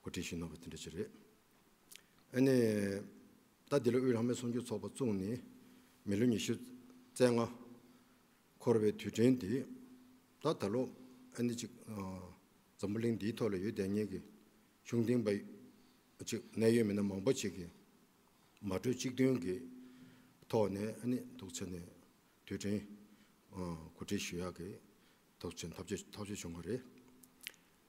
འགོ་ཁྲིད་ཞིག་གནང་བ་དེ་འདྲ་ཅིག་རེད། ཨ་ནི། ད་འདི་ལོ་དབུས་ལྷག་མའི་གསུང་ཆོས་ཚོགས་པ་བཙུགས་ནས་མི་ལོ་ཉི་ཤུ་རྩེ་ལྔ་འཁོར་བའི་དུས་དྲན་འདི། ད་ད་ལོ་ཨ་ནི་ཅིག་འཛམ་བུ་གླིང་འདིའི་ཐོག་ལ་ཡོད་བསྡད་ཉེས་ཀྱི་གཞུང་འདིང་པ་ཅིག་གནད་ཡོད་མི་སྣ་མང་པོ་ཅིག་གིས་མ་གྲོས་གཅིག་མཐུན་གྱི་ཐོག་ནས་ཨ་ནི་དུག་ཚེ་ནས་དུས་དྲན་གོ་སྒྲིག་ཞུ་ཡག་གི་ཐོག་ཆེན་ཐག་གཅོད་བྱུང་བ་རེད།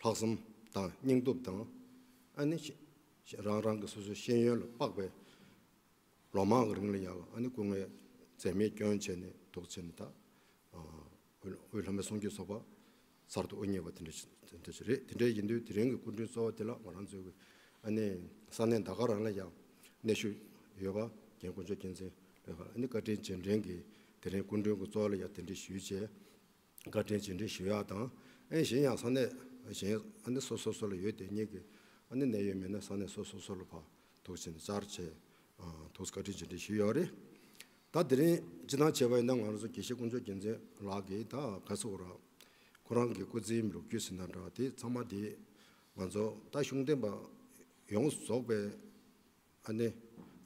ལྷག་བསམ་དང་སྙིང་སྟོབས་དང། ཨ་ནི། རང་རང་གི་སོ་སོའི་ཤེས་ཡོན་ལ་དཔག་པའི། ལོ་མང་གི་རིང་ལ་ཡང་ཨ་ནི་སྐུ་ངལ་འཛེམས་མེད་སྐྱོན་བྱས་ནས་དོགས་ཆེ་ནས་ད། འོས་ལྷ་མོའི་གསུང་སྐྱོན་ཚོགས་པ། གསར་དུ་དབུ་བརྙེས་པ་དེ་འདྲ་ཞིག་རེད་དེ་འདྲ་ཡིན་དུས་དེ་རིང་གི་སྐུ་མགྲོན་གཙོ་བོ་དེ་ལགས་ང་རང་ཚོའི་གི་ཨ་ནི། ས་གནས་འདའ་ཁར་རང་ལ་ཡང་གནས་ཤུགས་ཡོད་པ་རྒན་དཀོན་མཆོག་རྒྱལ་མཚན་ལོས་ཁར་ཨ་ནི་བཀའ་དྲིན་རྗེས་དྲན་གིས་དེ་རིང་སྐུ་མགྲོན་གི་གཙོ་བོ་ལ་ཡང་དེ་འདྲའི་ཞུས་བྱས། བཀའ་དྲིན་རྗེས་འབྲེལ་ཞུ་ཡག་དང། ཨེ་གཞན་ཡང་ས་གནས་གཞན་ཨ་སོ་སོ་སོ་ལ་ཡོད་དེ་གཉིས་ཀྱི་ཨ་ནི་གནད་ཡོད་མི་སྣ་ས་གནས་སོ་སོ་སོ་ལ་ཕག་ཐུག་ཕྱིན་བཅར་བྱས་ཐུགས་བཀའ་དྲིན་རྗེས་འབྲེལ་ཞུ་ཡག་རེད་ད་དེ་རིང་སྤྱི་དང་བྱས་པ་ཡིན་ན་ང་རང་ཚོ་དགེ་བཤེས་དཀོན་མཆོག་རྒྱལ་མཚན་ལགས་ཀྱིས་ད་ག་སོ་ར་ཁོ་རང་གི་སྐུ་ཚེའི་ལོ་རྒྱུས་ཟིན་ན་འདྲ་དེ་ཚང་མ་དེ་ང་ཚོ་ད་གཞུང་འདེམས་པ་ཡོངས་རྫོགས་པའི། ཨ་ནེ།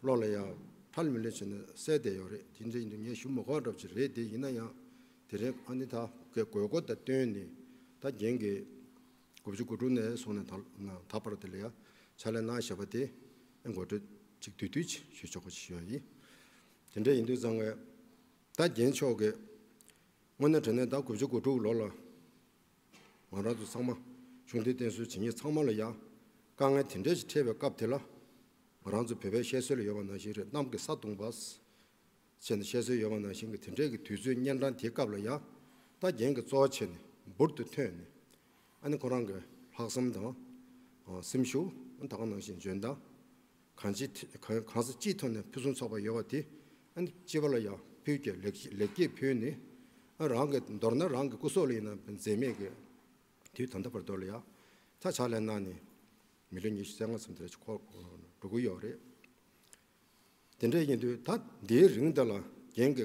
བློ་ལ་ཡང། ཁྲལ་མི་ལོས་བྱས་ན་གསལ་བསྡད་ཡོད་རེད་དེ་འདྲ་ཡིན་དུས་ངས་ཞུ་མི་དགོས་གྲབས་ཅིག་རེད་དེ་ཡིན་ན་ཡང། དེ་རིང་ཨ་ནེ་ད་གའི་དགོས་མཁོ་དེ་བཏོན་ནས་ད་རྒན་གྱི། དགུ་བཅུ་དགུ་དྲུག་ནས་བཟུང་ནས་ད་བར་དེ་ལ་ཡང་ཕྱག་ལས་གནང་ཞེས་པ་དེ། ཨེ་མགོ་སྤྲོད་ཅིག་དུས་དུས་ཅིག་ཞུས་ཆོག་པ་ཞིག་ཡོད་ཡིན། དེ་འདྲ་ཡིན་དུས་གཙང་བས། ད་རྒན་མཆོག་གིས། དངོས་གནས་དྲན་ནས་ད་དགུ་བཅུ་དགུ་དྲུག་ལོ་ལ། ང་རང་ཚོ་ཚང་མ་ཆུང་དུས་བསྟེན་གསོལ་བྱེད་ཉིན་ཚང་མ་ལ་ཡང་དཀའ་ངལ་དེ་འདྲ་ཞིག་འཕྲད་པའི་སྐབས་དེ་ལ། ང་རང་ཚོ་བོད་པའི་བཤད་སྲོལ་ལ་ཡོད་པ་ནང་བཞིན་རེད་གནམ་གྱི་ས་བརྡུངས་པ། བྱས་ནས་བཤད་སྲོལ་ཡོད་པ་ནང་བཞིན་གྱི་དེ་འདྲས་ཀྱི་དུས་ཚོད་གཉན་འཕྲང་དེའི་སྐབས་ལ་ཡང་རྟ་རྒྱན་གྱི་གཙོ་བ་བྱས་ནས་འབུར་དུ་ཐོན་ནས། ཨ་ནི་ཁོ་རང་གི་ལྷག་བསམ་དང། སེམས་ཤུགས་ད་ག་ནང་བཞིན་འཇོན་ཐང། གང་ཅི་གང་ས་ཅི་ཐོག་ནས་ཕུན་སུམ་ཚོགས་པ་ཡོད་པ་དེ་སྤྱི་བ་ལ་ཡང་ཕུལ་གྱི་ལེགས་སྐྱེས་ཕུལ་ནས་རང་གི་མདོར་ན་རང་གི་སྐུ་སྲོག་ལ་ཡིན་ན་འཛད་མེད་ཀྱི་དུས་ད་ལྟ་བར་དོར་ལ་ཡང་ད་ཆ་ལས་གནང་ནས་མི་ལོ་ཉི་ཤུ་རྩ་ལྔ་ཙམ་དེ་རེད་འགྲོ་གི་ཡོད་རེད། དེ་འདྲ་ཡིན་དུས་ད་འདིའི་རིང་འདི་ལ་རྒན་གྱི་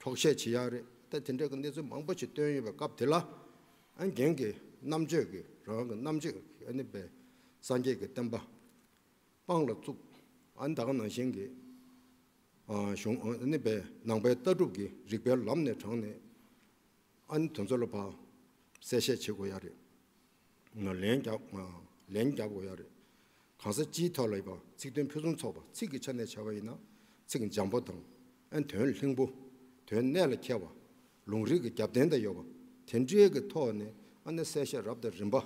གྲོགས་བཤད་ཇི་ཡག་རེད་ད་དེ་འདྲ་གི་གནས་ཚུལ་མང་པོ་ཞིག་བཏོན་ཡོད་པའི་སྐབས་དེ་ལ། རྒན་གྱི་རྣམ་དཔྱོད་ཀྱི་རང་དབང་གི་རྣམ་དཔྱོད་ནི་པའི་སངས་རྒྱས་ཀྱི་བསྟན་པ་དཔང་ལ་བཙུགས། ད་ག་ནང་བཞིན་གྱི་གཞུང་ནི་པའི་ནང་པའི་ལྟ་གྲུབ་ཀྱི་རིགས་པའི་ལམ་ནས་དྲངས་ནས། དོན་ཚོད་ལ་བབས་གསལ་བཤད་བྱེད་དགོས་ཡག་རེད། ལན་རྒྱག་ལན་རྒྱག་དགོས་ཡ་རེད། གང་ས་ཅིའི་ཐོག་ལ་ཡིན་པ་ཚིག་དོན་ཕུན་སུམ་ཚོགས་པ་ཚིག་གི་ཆ་ནས་བྱ་བ་ཡིན་ན་ཚིག་འཇམ་པོ་དང། ཨན་དོན་ལྷིང་པོ། དོན་གནད་ལ་ཁེལ་བ། ལུང་རིགས་ཀྱི་རྒྱབ་རྟེན་དང་ཡོད་པ་དེ་འདྲའི་གི་ཐོག་ནས་ཨ་ནེ་གསལ་བཤད་རབ་དང་རིམ་པ་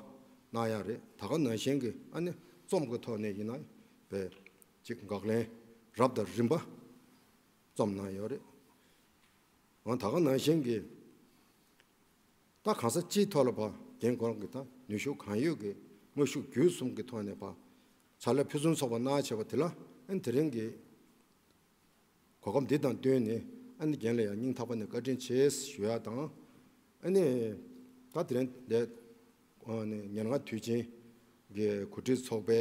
གནང་ཡ་རེད་ད་ག་ནང་བཞིན་གི་ཨ་ནེ་རྩོམ་གི་ཐོག་ནས་ཡིན་ན་བས་ཅིག་འགག་ལན་རབ་དང་རིམ་པ་རྩོམ་གནང་ཡོད་རེད། ཨང་ད་ག་ནང་བཞིན་གི། ལྟ་གང་ས་སྤྱིའི་ཐོག་ལ་བ་དན་གོང་གི་དང་ནུས་ཤུགས་གང་ཡོད་ཀྱི་དངོས་ཤུགས་བརྒྱུད་གསུམ་གྱི་ཐོག་ནས་བ་ཚྭ་ལ་ཕུན་སུམ་ཚོགས་པ་གནང་བྱས་པ་དེ་ལ་ཨན་དེ་རིང་གི་གོ་སྐབས་འདི་དང་བསྟུན་ནས་ཨན་རྒན་ལ་ཡང་སྙིང་ཐག་པ་ནས་བཀའ་དྲིན་ཆེ་ཞུ་ཡག་དང། ཨན་ད་དེ་རིང་འདས་ཉེར་ལྔ་དུས་ཆེན་གྱི་གོ་སྒྲིག་ཚོགས་པའི་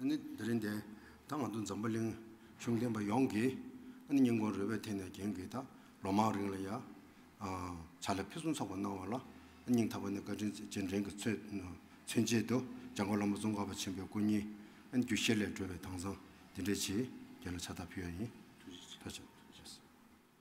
ཨ་ནི་དེ་རིང་དེ་ད་ང་ཚོ་འཛམ་བུ་གླིང་གཞུང་བསྟེན་པ་ཡོངས་ཀྱིས་ཨ་ནི་སྙིང་ཁོང་རོལ་བའི་ཐད་ནས་རྒྱན་གྱིས་ད་ལོ་མང་རིང་ལ་ཡང་བྱ་ལས་ཕུན་སུམ་ཚོགས་པ་གནང་བ་ལ་ཨ་སྙིང་ཐག་པ་ནས་བཀའ་དྲིན་རྗེས་དྲན་གྱི་མཚོན་བྱེད་དུ་འཇང་དགོན་བླ་མ་ཙོང་ཁ་པ་ཆེན་པོའི་སྐུ་བརྙན་ཨ་ནི་རྒྱུ་བཤེར་ལས་སྒྲོལ་བའི་དྭངས་གཙང་འདི་འདྲའི་ཆེད་རྒྱལ་ལ་ཕྱག་རྟགས་ཕུལ་བ་ཡིན།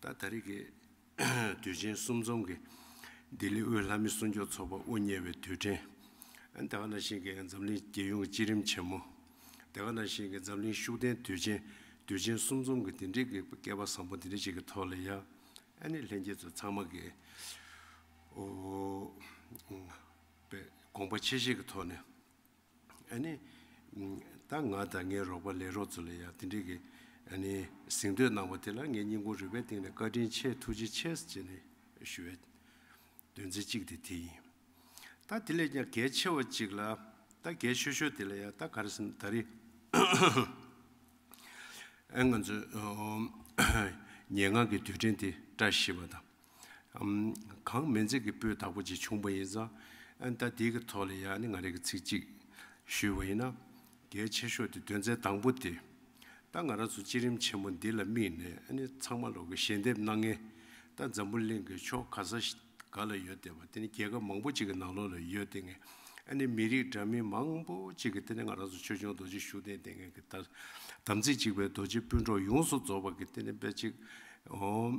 ད་ལྟ་རིགས་ཀྱི་དུས་ཆེན་གསུམ་འཛོམས་ཀྱི་ལྡི་ལི་དབུས་ལྷ་མི་སྲུང་སྐྱོབ་ཚོགས་པ་དབུ་བརྙེས་པའི་དུས་དྲན། སྡེ་བ་ན་ཤིང་གི་འཛམ་གླིང་རྒྱལ་ཡོངས་སྤྱི་རིམ་ཆེན་མོ། སྡེ་བ་ན་ཤིང་གི་འཛམ་གླིང་ཤུགས་ལྡན་དུས་ཆེན་དུས་ཆེན་གསུམ་འཛོམས་ཀྱི་འདི་འདྲིའི་གི་བསྐལ་པ་བཟང་པོ་འདི་འདྲ་ཞིག་གི་ཐོག་ལ་ཡ་ཨ་ནི་ལྷན་རྒྱས་ཚོ་ཚང་མ་གི་འོ་དཔེ་དགོངས་པ་ཆེ་བཞེས་ཀྱི་ཐོག་ནས། ཨ་ནི། ད་ང་དང་ངའི་རོགས་པ་ལས་རོགས་ཚོ་ལ་ཡང་དེ་འདྲིའི་གི་ཨ་ནི་གཟེངས་བསྟོད་གནང་བ་དེ་ལ་ངའི་སྙིང་ཁུང་རུས་པའི་གཏིང་ནས་བཀའ་དྲིན་ཆེ་ཐུགས་རྗེ་ཆེ་ཟེར་ནས་ཞུ་བའི་དོན་ཚན་གཅིག་དེ་དེ་ཡིན། ད་དེ་ལས་ཀྱང་གལ་ཆེ་བ་གཅིག་ལ་ད་གལ་ཤོས་ཤོས་དེ་ལ་ཡང་ད་ག་རེ་ཟིན་ད་རེ་ཨ་ང་ཚོས་ཉེ་སྔགས་ཀྱི་དུས་དྲན་དེ་བཀྲ་ཤིས་པ་དང། གང་སྨན་རྫས་ཀྱི་སྤོས་དག་པོ་ཅིག་བྱུང་བ་ཡིན་ཙང། ད་དེའི་གི་ཐོག་ལ་ཡང་ནི་ང་རེ་གི་ཚིག་ཅིག་ཞུས་བ་ཡིན་ན། གལ་ཆེ་ཤོས་དེ་དོན་ཚན་དང་པོ་སྟེ། ད་ང་རང་ཚོ་སྤྱི་རིམ་ཆེན་མོ་འདི་ལ་དམིགས་ནས་ནི་ཚང་མ་ལོག་གི་ཞལ་འདེབས་གནང་ངེས། ད་འཛམ་བུ་གླིང་གི་ཕྱོགས་ག་ས་ག་ལ་ཡོད་དེ་བ་དེ་ནི་རྒྱལ་ཁབ་མང་པོ་ཅིག་གི་ནང་ལོག་ལ་ཡོད་དེ་ངས་ནི་མི་རིགས་འདྲ་མིན་མང་པོ་ཅིག་གི་དེ་ནི་ང་རང་ཚོ་ཆོས་སྐྱོང་རྡོ་རྗེ་བཞུགས་གདན་དེ་ངས་གི་ད་དམ་ཚིག་ཅིག་པའི་རྡོ་རྗེ་སྤུན་གྲོགས་ཡོངས་སུ་རྫོགས་པར་གི་དེ་ནི་དཔེ་ཅིག་ཨོ།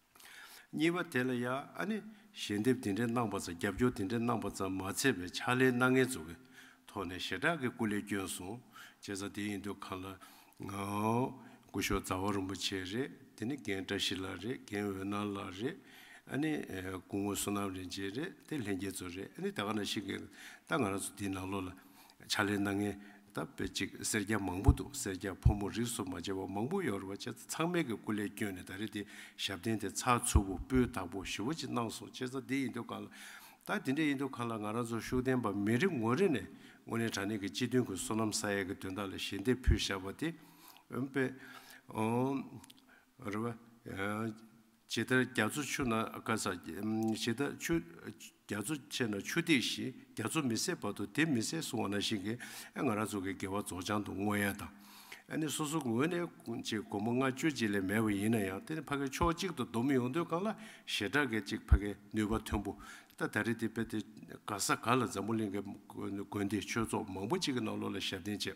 གཉིས་པ་དེ་ལ་ཡང་ཨ་ནི་ཞལ་འདེབས་དེ་འདྲའི་གནང་བ་ཙམ་རྒྱབ་སྐྱོར་དེ་འདྲའི་གནང་བ་ཙམ་མ་ཚད་པའི་ཕྱག་ལེན་སྣ་ལྔའི་ཚོགས་ཀྱི་ཐོག་ནས་ཞེ་དྲག་གི་སྐུ་ལས་བསྐྱོན་སོང་བྱས་ཙང་དེ་ཡིན་དུས་གང་ལ ྋསྐུ་ཞོགས་རྫ་བ་རིན་པོ་ཆེ་རེད་དེ་ནི་རྒན་བཀྲ་ཤིས་ལགས་རེད་རྒན་འོད་སྣང་ལགས་རེད་ཨ་ནི་སྐུ་ངོ་བསོད་ནམས་རིན་ཆེན་རེད་དེ་ལྷན་རྒྱས་ཚོ་རེད་ཨ་ནི་ད་ག་ན་ཞིག་གིས་ད་ང་རང་ཚོ་འདིའི་ནང་ལོགས་ལ་ཕྱག་ལེན་སྣ་ལྔའི་ད་པེ་ཅིག་སེར་སྐྱ་མང་པོ་འདུག་སེར་སྐྱ་ཕོ་མོ་རིས་སུ་མ་ཆད་པ་མང་པོ་ཡོད་རེད་བ་ཅེས་ཚང་མལ་གྱི་སྐུ་ལས་བསྐྱོན་ནས་ད་རེས་དེ་ཞབས་བརྟན་དེ་ཚགས་ཚུད་བོ་སྤུའི་དག་པོ་ཞི་བོ་ཅིག་གནང་སོང་ཅེས་ད་འདི་ཡིན་དུས་གང་ལ་ད་འདི་འདྲ་ཡིན་དུས་གང་ལ་ང་རང་ཚོ་ཤུགས་ལྡན་པ་མི་རེ་ངོ་རེ་ནས་དངོས་གནས་དྲང་གནས་ཀྱི་སྤྱི་དོན་གྱི་སོ་ནམ་ས་ཡ་གྱི་དོན་དག་ལ་ཞལ་འདེབས་ཕུལ་བཞག་པ་དེ་འོན་པའི་རེད་བ། ཇི་ལྟར་རྒྱ་མཚོ་ཆུ་ན་བསྐལ་བཟའ། ཇི་ལྟར་ཆུ་རྒྱ་མཚོ་ཆེ་ན་ཆུ་ཐིགས་བཞིན་རྒྱ་མཚོ་མི་ཟད་བར་དུ་དེ་མི་ཟད་གསུང་བ་ན་བཞིན་གྱི་ཨེ་ང་ར་ཚོགས་ཀྱི་དགེ་བ་རྫོགས་བྱང་དུ་བསྔོ་ཡན་དང། ཨེ་ནི་སོ་སོ་ངོས་ནས་ཅིག་སྒོ་མོ་ལྔ་སྤྱོད་གཅིག་ལས་མེད་པ་ཡིན་ན་ཡང་དེ་ནི་ཕ་གའི་ཕྱོགས་གཅིག་ཏུ་སྡོམ་ཡོང་དུས་གང་ལ་ཞེ་དྲག་གི་ཅིག་ཕ་གའི་ནུས་པ་མཐོན་པོ་ཏ་ད་རེ་དེ་དཔེ་དེ་ག་ས་ག་ལ་འཛམ་བུ་གླིང་གི་དགོན་སྡེ་ཆོས་ཚོགས་མང་པོ་གཅིག་གི་ནང་ལོགས་ལ་ཞབས་བརྟན་བྱས།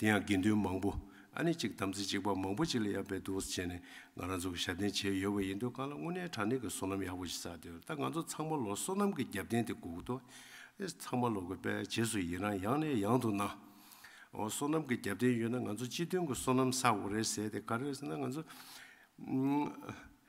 དེ་ཡང་དགེ་འདུན་མང་པོ་ཨ་ནེ་གཅིག་དམ་ཚིག་གཅིག་པ་མང་པོ་གཅིག་ལ་ཡར་འབད་དུ་བྱས་ནས་ང་རང་ཚོ་གི་ཞབས་བརྟན་བྱས་ཡོད་པ་ཡིན་དུས་གང་ལ་དངོས་གནས་དྲང་གནས་ཀྱི་སོ་ནམ་ཡག་པོ་ཞིག་བསགས་ཏེ་ད་ང་ཚོ་ཚང་མ་ལོ་སོ་ནམ་གྱི་རྒྱབ་རྟེན་དེ་སྒུག་ཏུ་ཚང་མ་ལོག་གི་པས་རྗེས་སུ་ཡི་རང་ཡང་ནས་ཡང་དུ་གནང། སོ་ནམ་གྱི་རྒྱབ་རྟེན་ཡོད་ན་ང་ཚོ་སྤྱི་མཐུན་གྱི་སོ་ནམ་བསགས་དགོས་རེད་ཟེར་ཏེ་ག་རེ་ཟེར་ན་ང་ཚོ་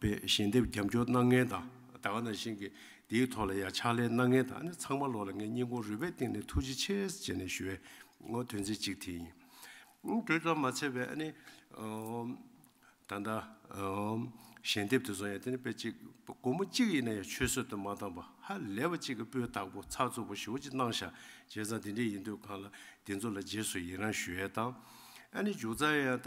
པའི་ཞལ་འདེབས་རྒྱབ་འཇོག་གནང་མཁན་དང་ད་ག་ནང་བཞིན་གྱི་དེའི་ཐོག་ལ་ཡང་ཕྱག་ལས་གནང་མཁན་དག་ནི་ཚང་མ་བློ་ལ་ངས་སྙིང་ཁོང་རུས་པའི་གཏིང་ནས་ཐུགས་རྗེ་ཆེ་ཞེས་ནས་ཞུ་བའི་དོན་ཚན་གཅིག་དེ་ཡིན། དེ་ཙམ་མ་ཚད་པའི་ནི་ད་ལྟ་ཞལ་འདེབས་དེ་ཚོ་ཡང་དེ་ནི་དཔེ་གཅིག་སྒོར་མོ་གཅིག་ཡིན་ན་ཡང་ཆུད་ཟོས་དུ་མ་བཏང་བར་ཧ་ལས་པ་གཅིག་གི་སྤུའི་བདག་པོ་ཚགས་ཚུད་པོ་ཞིག་འོ་ཅི་གནང་ཞག་བྱས་ཙང་དེ་འདྲས་ཡིན་དུས་གང་ལ་དེ་ཚོ་ལ་རྗེས་སུ་ཡི་རང་ཞུ་ཡས་དང་ཨ་ནི་འཇུག་ཙང་ཡང་ད་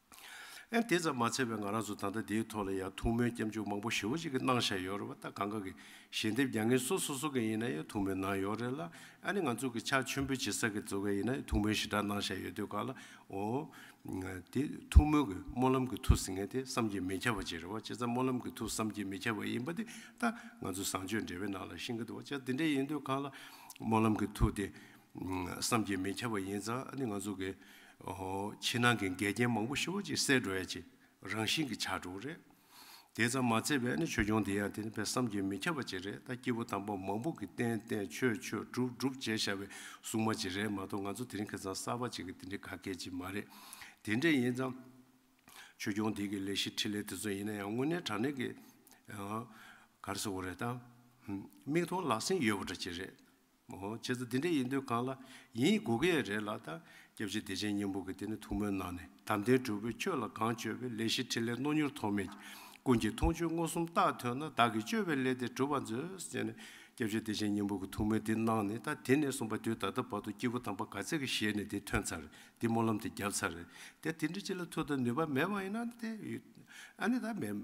ཨེ། དེ་ཙམ་མ་ཚད་པའི་ང་རང་ཚོ་ད་ལྟ་འདིའི་ཐོག་ལ་ཡང་ཐུགས་སྨོན་སྐྱབས་འཇུག་མང་པོ་ཞེ་བོ་གཅིག་གི་གནང་བཞག་ཡོད་རེད་བ་ད་གང་ག་གི་ཞལ་འདེབས་རྒྱག་ངེས་སོ་སོ་སོ་ག་ཡིན་ན་ཡང་ཐུགས་སྨོན་གནང་ཡོད་རེད་ལ་ཨ་ནི་ང་ཚོ་གི་ཕྱག་མཆོད་འབུལ་བྱེད་ས་གི་ཚོ་ག་ཡིན་ན་ཡང་ཐུགས་སྨོན་ཞེ་དྲག་གནང་བཞག་ཡོད་དུས་ག་ལ་འོ། དེ་ཐུགས་སྨོན་གི་སྨོན་ལམ་གི་ཐུགས་ཟིན་ངེས་དེ་བསམ་གྱིས་མི་ཁྱབ་པ་ཅིག་རེད་བ་ཅེ་ཙམ་སྨོན་ལམ་གི་ཐུགས་བསམ་གྱིས་མི་ཁྱབ་པ་ཡིན་པ་དེ་ད་ང་ཚོ་བཟང་སྤྱོད་འབྲེལ་བའི་ནང་ལ་ཤིང་གི་དུ་བ་ཅག་དེ་འདྲ་ཡིན་དུས་ག་ལ་སྨོན་ལམ་གི་ཐུགས་དེ་བསམ་གྱིས་མི་ཁྱབ་པ་ཡིན་ཙང་ཨ་ནི་ང་ཚོ་གི་ཕྱི་ནང་གི་འགལ་རྐྱེན་མང་པོ་ཤོར་བ་ཅིག་སེལ་འགྲོ་ཡ་ཅིག་རང་བཞིན་གྱི་ཆགས་གྲུག་རེད། དེ་ཙམ་མ་ཚད་པས་ནི་ཆོས་སྐྱོང་འདི་ཡང་དེ་ནི་ཕའི་བསམ་གྱིས་མི་ཁྱབ་པ་ཅིག་རེད་ད་སྐྱེས་བུ་དམ་པ་མང་པོ་གི་བསྟན་བསྟན་ཆོས་ཆོས་སྒྲུབ་སྒྲུབ་བྱས་ཤར་བའི་སྲུང་མ་ཅིག་རེད་མ་གཏོགས་ང་ཚོ་དེ་རིང་ཁེ་ཚང་གསར་པ་ཅིག་གི་དེ་འདྲའི་ག་གེ་ཅིག་མ་རེད། དེ་འདྲས་ཡིན་ཙང། ཆོས་སྐྱོང་འདི་གི་ལས་གཞི་ཁྲིད་ལས་དེ་ཚོ་ཡིན་ན་ཡང་དངོས་གནས་དྲང་གནས་ཀྱི། གར་སོང་བ་རེད་ད། མིག་མཐོང་ལག་ཟིན་ཡོད་པ་འདྲ་ཅིག་རེད། མོ། བྱས་ཙོ་དེ་འདྲ་ཡིན་དུས་གང་ལ་ཡིན་དགོས་གི་ཡ་རེད་ལགས་ད། སྐྱབས་རྗེ་བདེ་ཆེན་སྙིང་པོ་གི་དེ་ནི་ཐུགས་སྨོན་གནང་ནས་དམ་ལྡན་གྲུབ་པོས་ཁྱོད་ལ་གང་བཅོལ་བའི་ལས་ཤིག་ཕྲིན་ལས་རྣོ་མྱུར་ཐོགས་མེད་ཀུན་གྱི་མཐོང་ཆོས་མངོན་སུམ་རྟགས་ཐོན་ན་བདག་གིས་བཅོལ་བའི་ལས་དེ་གྲུབ་པར་མཛོད། ཅེས་ནས་སྐྱབས་རྗེ་བདེ་ཆེན་སྙིང་པོ་གི་ཐུགས་སྨོན་འདི་གནང་ནས་ད་དེ་ནས་གསུམ་པ་དུས་ད་ལྟ་བར་དུ་སྐྱེས་བུ་དམ་པ་ག་ཚད་ཀྱི་ཞལ་ནས་དེ་ཐོན་ཚར་དེ་སྨོན་ལམ་དེ་བརྒྱབ་ཚར་ད་དེ་འདྲ་ཅི་ལ་ཐུགས་དང་ནུས་པ་མེད་པ་ཡིན་ན་ཏེ། ཨ་ནི་ད་མེད།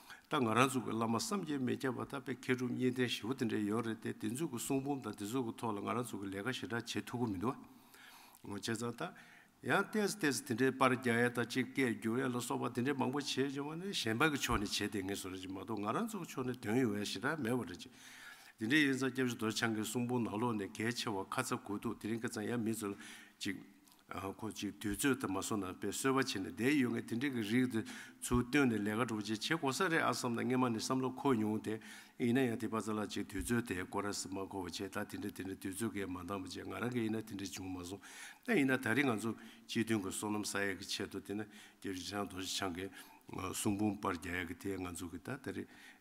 ད་ང་རང་ཚུགས་པའི་བླ་མ་བསམ་གྱིས་མི་ཁྱབ་པ་ད་པའི་མཁས་གྲུབ་གཉིས་ལྡན་བཞི་བོ་དེ་འདྲས་ཡོད་རེད་དེ་དེ་ཚོའི་གི་གསུང་འབུམ་དང་དེ་ཚོའི་གི་ཐོག་ལ་ང་རང་ཚུགས་ཀྱི་ལས་ཀ་ཞེ་དྲག་བྱེད་ཐུབ་གི་མི་འདུག་བ། བྱས་ཙང་ད། ཡང་བལྟས་སུ་བལྟས་སུ་དེ་འདྲས་པར་རྒྱག་ཡ་དང་སྤྱིར་སྐད་བསྒྱུར་ཡ་ལ་སོགས་པ་དེ་འདྲས་མང་པོ་བྱེད་བྱུང་བ་ནི་གཞན་པ་གི་ཕྱོགས་ནས་བྱེད་བསྡད་ངེས་སུ་རེད་ཅེས་མ་གཏོགས་ང་རང་ཚུགས་ཀྱི་ཕྱོགས་ནས་དོན་ཡོད་ཡ་ཞེ་དྲག་མེད་བ་རེད་ཅེས། དེ་འདྲས་ཡིན་ཙང་སྐྱབས་རྗེ་རྡོ་ཆང་གི་གསུང་འབུམ་ནང་ལོགས་ནས་གལ་ཆེ་བ་ཁ་ཚ་དགོས་འདུག་དེ་རིང་སྐད་ཙང་ཡ་མི་ཚོ་ལ་ཅིག། ཁོ་ཅིག་དུས་ཚོད་དུ་མ་སོང་ན་དཔེ་གསོལ་བ་བྱས་ནས་བསྡད་ཡོད་ངེས་དེ་འདྲའི་གི་རིགས་དེ་ཚུར་བཏོན་ནས་ལས་ཀ་གྲུབ་བྱེད་བྱེད་དགོས་ས་རེད་ཨ་བསམ་ན་སྔན་མ་ནས་བསམ་བློ་འཁོར་མྱོང་དེ་ཡིན་ན་ཡང་དེ་པ་ཙ་ལགས་ཅིག་དུས་ཚོད་དེ་ཀོ་ར་སི་མ་འཁོར་བ་བྱས་ད་དེ་འདྲ་དེ་འདྲ་དུས་ཚོད་འགས་མ་འདང་བ་བྱས་ང་རང་གིས་ཡིན་ན་དེ་འདྲ་བྱུང་མ་སོང་ད་ཡིན་ན་ད་རིང་ང་ཚོ་སྤྱི་མཐུན་གི་སོ་ནམ་ས་ཡག་གི་ཆེད་དུ་དེ་ན་རྒྱ་རི་ཆང་རྡོ་རྗེ་འཆང་གི་གསུང་འབུམ་པར་རྒྱ་ཡག་གི་དེ་ང་ཚོ་གི་ད་ད་རེ་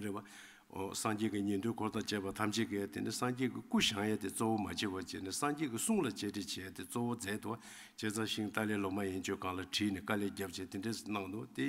རེད་བ། སངས་རྒྱས་ཀྱི་ཉན་ཐོས་འཁོར་དང་བཅས་པ་ཐམས་ཅད་ཀྱིས་དེ་ནི་སངས་རྒྱས་ཀྱི་སྐུ་བཞེངས་ཡས་དེ་གཙོ་བོ་མ་བྱས་བར་བྱས་ནས་སངས་རྒྱས་ཀྱི་གསུང་ལ་གཅེས་སྤྲས་བྱས་དེ་གཙོ་བོ་མཛད་དོ། ཅེས་བརྩམས་ཤིང་ཏཱ་ལའི་ལོ་མ་ཡན་ཆོད་གང་ལ་དྲིས་ནས་བཀའ་ལས་རྒྱབ་ཅེས་དེ་འདྲས་གནང་ནོ། དེ་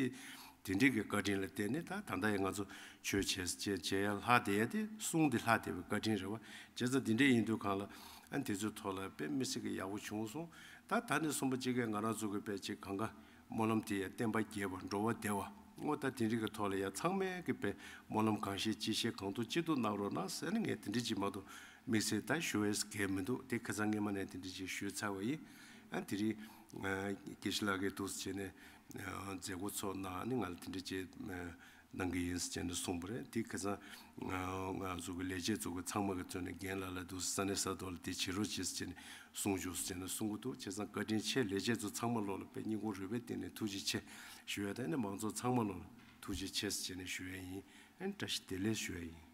དེ་འདྲས་ཀྱི་བཀའ་དྲིན་ལ་བརྟེན་ནས་ད་ད་ལྟ་ཡང་ང་ཚོ་ཆོས་བྱེད་ས་ཅན་བྱེད་ཡ་ལྷ་དེ་ཡ་དེ་གསུང་འདི་ལྷ་དེ་བའི་བཀའ་དྲིན་རེད་བ། བྱས་ཙང་དེ་འདྲས་ཡིན་དུས་གང་ལ་ཨ་འདི་ཚོའི་ཐོག་ལ་དཔེ་མི་སྲིད་ཀྱི་ཡག་པོ་བྱུང་སོང། ད་ད་ནས་གསུམ་པ་གཅིག་གིས་ང་རང་ཚོ་གི་དཔེ་ཅིག་གང་ག་སྨོན་ལམ་དེ་ཡང་བསྟན་པ་རྒྱས་པར་འགྲོ་བ་བདེ་བ་སྔོ་ལྟར་དེ་རིགས་ཀྱི་ཐོག་ལ་ཡང་ཚང་མས་གི་པའི་སྨོན་ལམ་གང་ཤེས་ཅི་ཤེས་གང་ཐུག་ཅི་ཐུག་གནང་རོགས་གནང་ཟེར་ནས་ངས་དེ་འདྲི་གཅིག་མ་ཏོག་མིག་སེར་ད་ཞོ་ཨེས་གས་མི་འདུག་དེ་ཁེ་ཚང་སྔས་མ་ནས་དེ་འདྲི་གཅིག་ཞུས་ཚར་བ་ཡིན་ཨ་དེ་རིང་ངས་ཀྱི་ཤི་ལག་གི་དུགས་སུ་བྱས་ནས་མཛད་སྒོ་ཚོགས་གནང་ནི་ང་ལ་དེ་འདྲི་བྱེད་གནང་གི་ཡིན་ཟེར་ནས་གསུངས་པ་རེད་དེ་ཁེ་སང་ང་ཚོ་གི་ལས་བྱེད་ཚོ་གི་ཚང་མ་གི་ཚོ་ནས་རྒན་ལ་ལ་འདུག་ས་ས་ནས་ས་ཐོག་ལ་དེ་བྱེད་རོགས་བྱེད་ཟེར་ནས་གསུང་བྱུང་ཟེར་ནས་གསུང་གི་འདུག་བྱས་ཙང་བཀའ་དྲིན་ཆེ་ལས་བྱེད་ཚོ་ཚང་མ་བློ་ལ་དཔེ་སྙིང་ཁོང་རུས་པའི་སྟེང་ནས་ཐུགས་རྗེ་ཆེ་ཞུ་ཡ་དང་ནས་མང་ཚོགས་ཚང་མ་བློ་ལ་ཐུགས་རྗེ་ཆེ་ཟེར་ནས་ཞུ་ཡ་ཡིན་ཨན་བཀྲ་ཤིས་བདེ་ལེགས་ཞུ་ཡ་ཡིན།